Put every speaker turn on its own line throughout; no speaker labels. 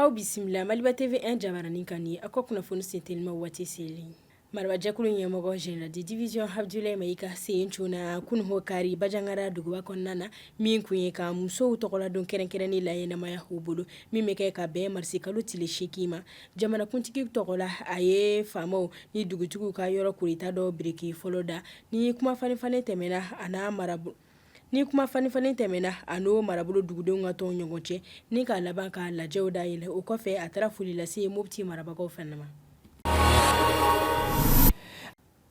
Aw bisimila Maliba TV 1 jabaranin kan aw ka kunnafoni sentelima waati selen marabajɛkulu ɲɛmɔgɔ général de division Abdoulaye Maïga sen cunna kunun hɔ kari Bajangara duguba kɔnɔna na min kun ye ka musow tɔgɔla don kɛrɛnkɛrɛnnen laɲɛnamaya u bolo min bɛ kɛ ka bɛn marisikalo tile seegin ma Jamanakuntigi tɔgɔ la a ye faamaw ni dugutigiw ka yɔrɔ kurata dɔ biriki fɔlɔ da ni kuma falenfalen tɛmɛna a ni marabolo ni kuma falenfalen tɛmɛna a n'o marabolo dugudenw ka tɔn ɲɔgɔn cɛ ni ka laban ka lajɛw da yɛlɛ o kɔfɛ a taara foli lase Mopti marabagaw fana ma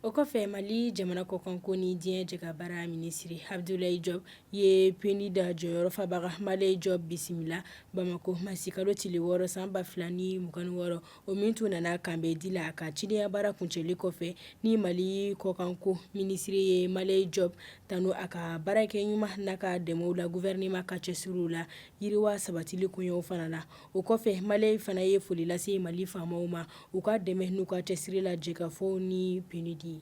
O kɔfɛ mali jamana kɔkanko ni diɲɛ jɛkabaara minisiri Abdoulaye Diop ye PNUD jɔyɔrɔfabaga Maleye Diop bisimila bamakɔ marisikalo tile wɔɔrɔ san ba 2 ni mugan ni wɔɔrɔ o min tun nana k'an bɛn di la a ka cidenya baara kuncɛli kɔfɛ ni mali kɔkanko minisiri ye Maleye Diop tanu a ka baarakɛ ɲuman n'a ka dɛmɛw la gouvernement ka cɛsiriw la yiriwa sabatili koɲɛw fana la o kɔfɛ Maleye fana ye foli lase mali faamaw ma u ka dɛmɛ n'u ka cɛsiri la jɛkafɔ ni PNUD ye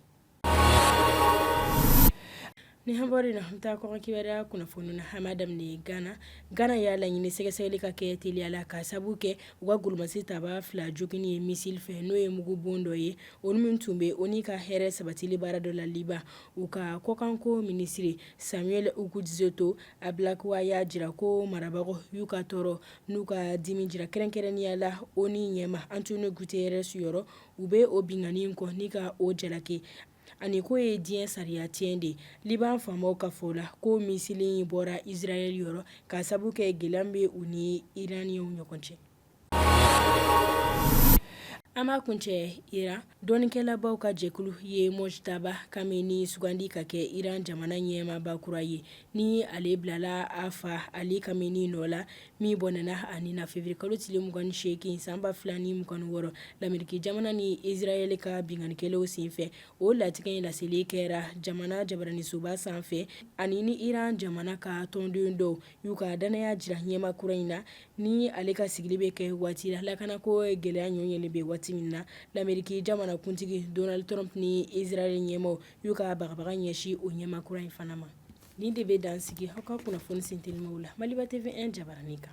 ni an bɛ na taa kɔkan kibaruya kunnafoni na an b'a daminɛ gana gana y'a laɲini sɛgɛsɛgɛli ka kɛ teliya la ka sabu kɛ u ka golomasitabaa fila joginni ye misili fɛ n'o ye mugubon dɔ ye olu min tun bɛ ONU ka hɛrɛ sabatili baara dɔ la Liban u ka kɔkanko minisiri Samuel Okudzeto Ablakwa y'a jira ko marabagaw y'u ka tɔɔrɔ n'u ka dimi jira kɛrɛnkɛrɛnnenya la ONU ɲɛma Antonio Guterres yɔrɔ u bɛ o binkanni in kɔn ni ka o jalaki ani k'o ye diɲɛ sariya tiɲɛ de ye Liban faamaw ka fɔ la k'o misili in bɔra Israɛl yɔrɔ ka sabu kɛ gɛlɛya min bɛ u ni Iraniens ɲɔgɔn cɛ. An b'a kuncɛ Iran Dɔnnikɛlabaw ka jɛkulu ye Mojtaba Khamenei sugandi ka kɛ iran jamana ɲɛmaba kura ye ni ale bilala a fa Ali Khamenei nɔ la min bɔnɛna a ni na février kalo tile mugan ni seegin san ba 2 ni mugan ni wɔɔrɔ Lameriki jamana ni Israɛli ka binkannikɛlaw senfɛ o latigɛ in laseli kɛra jamana jabaraninsoba sanfɛ ani ni iran jamana ka tɔndenw dɔw y'u ka dannaya jira ɲɛma kura in na Ni ale ka sigili bɛ kɛ waati la lakana ko gɛlɛya nɔ yelen bɛ waati min na Lameriki jamanakuntigi Donald Trump ni Israɛl ɲɛmaw y'u ka bagabaga ɲɛsin o ɲɛma kura in fana ma nin de bɛ dan sigi aw ka kunnafoni sentelimaw la Maliba TV 1 jabaranin kan